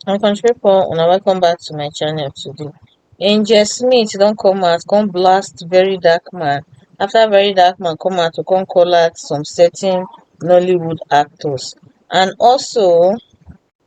my country people una welcome back to my channel today angel smith don come out come blast very dark man after very dark man come out to come call out some certain nollywood actors and also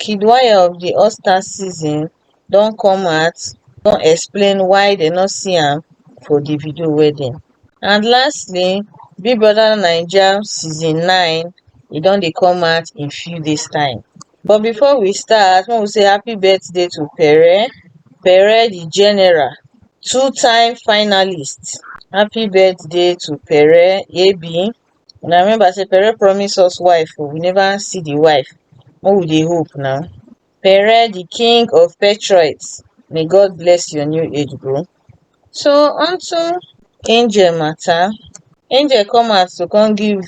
kid wire of di all stars season don come out don explain why dem no see am for davido wedding and lastly big brother naija season nine e don dey come out in few days time but before we start make we say happy birthday to pere pere di general two time finalist happy birthday to pere ab una remember say pere promise us wife oo we never see the wife make we dey hope na pere the king of patriots may God bless your new age bro so unto angel matter angel come out to come give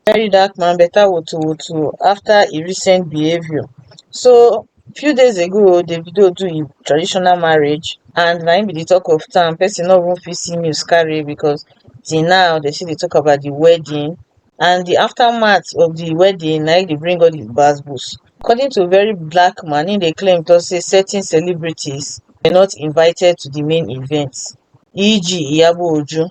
very dark man better woto woto after e recent behaviour so few days ago davido do im traditional marriage and na im be the talk of town person no even fit see news carry because till now they still dey talk about the wedding and the aftermath of the wedding na im dey bring all the gbas gbos according to very black man im dey claim talk say certain celebrities were not invited to the main event eg iyabo ojo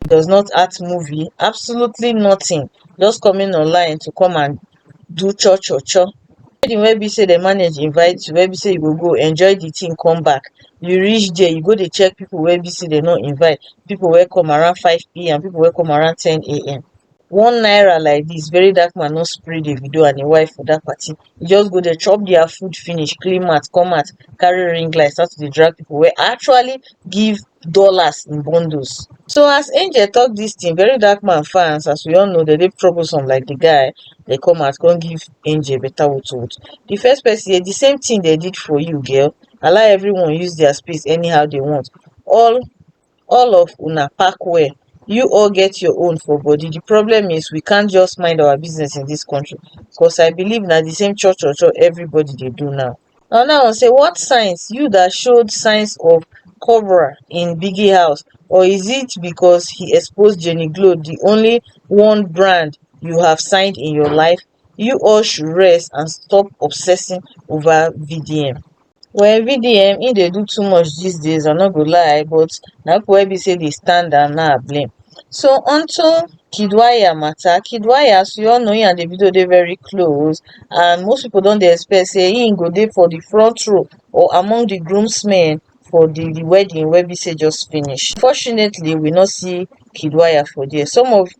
does not act movie absolutely nothing just coming online to come and do cho cho cho wedding wey be say dem manage invite you wey be say you go go enjoy the thing come back you reach there you go dey check people wey be say dem no invite people wey come around 5pm people wey come around 10am one naira like dis very dark man no spray davido and im wife for dat party e just go there chop dia food finish clean mat come out carry ring light start to dey drag pipo wey actually give dollars in bundles so as angel tok dis tin very dark man fans as we all know dem dey troublesome like di guy dey come out come give angel beta woto woto di first pesin hear di same tin dem did for you girl allow everyone use dia space anyhow dey want all all of una pack well you all get your own for body the problem is we can't just mind our business in this country cos i believe na the same cho cho cho everybody dey do now another one say what signs you that showed signs of cobra in biggie house or is it because he exposed jenny glow the only one brand you have signed in your life you all should rest and stop obsessing over vdm Well VD um im dey do too much these days I no go lie but na people wey be say dey stand am na I blame. So onto Kidwaya matter, Kidwaya as we all know him and Davido dey very close and most people don dey expect say him go dey for the front row or among the groomsmen for the the wedding wey be say just finish. Unfortunately we no see Kidwaya for there some of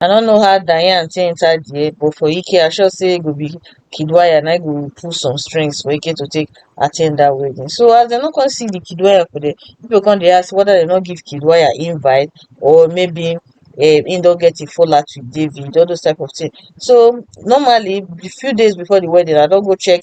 i no know how diane take enter there but for ike i sure say go be kid wire na im go pull some strings for ike to take at ten d that wedding so as dem no come see the kid wire for there people come dey ask whether dem no give kid wire invite or maybe um im don get im fallout with david all those type of thing so normally the few days before the wedding i don go check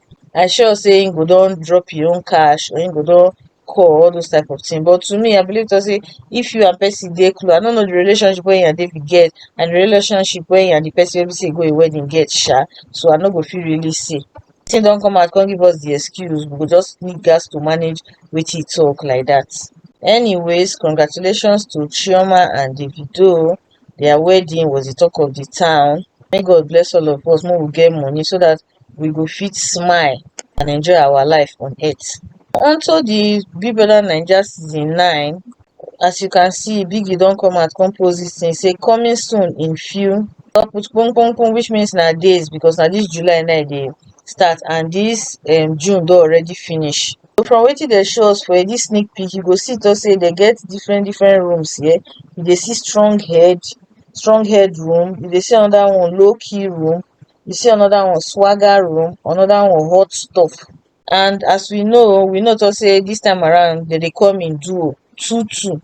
i sure say he go don drop him own cash or he go don call all those type of thing but to me i believe talk say if you and person dey close i no know the relationship wey you and David get and the relationship wey you and the person wey be say you go him wedding get sha so i no go fit really say thing don come out come give us the excuse we go just need gas to manage wetin he talk like that anyways congratulations to Chioma and Davido their wedding was the talk of the town may God bless all of us make we get money so that we go fit smile and enjoy our life on earth. On to the Big Brother Naija season nine, as you can see, Biggie don come out come post this thing say coming soon in few don put pum pum pum which means na days because na this July na e dey start and this um, June don already finish. So from wetin dey show us for this sneak peek, you go see talk say they get different different rooms here. You dey see strong head, strong head room. You dey see another one, low key room. you see another one swagger room another one hot stuff and as we know we know to say this time around they dey come in duo two two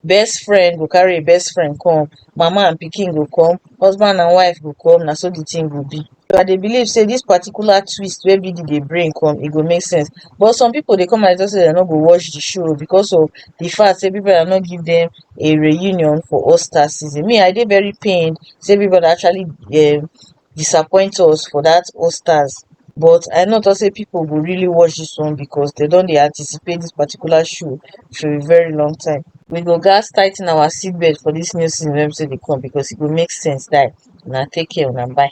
best friend go carry a best friend come mama and pikin go come husband and wife go come na so the thing go be so i dey believe say this particular twist wey bidi dey bring come e go make sense but some people dey come and talk say dem no go watch the show because of the fact say people are not give them a reunion for all star season me i dey very pained say everybody actually um disappoint us for that all stars but i know talk say people go really watch this one because they don dey anticipate this particular show for a very long time we go gas tighten our seatbelt for this new season wey be say dey come because e go make sense die una take care una bye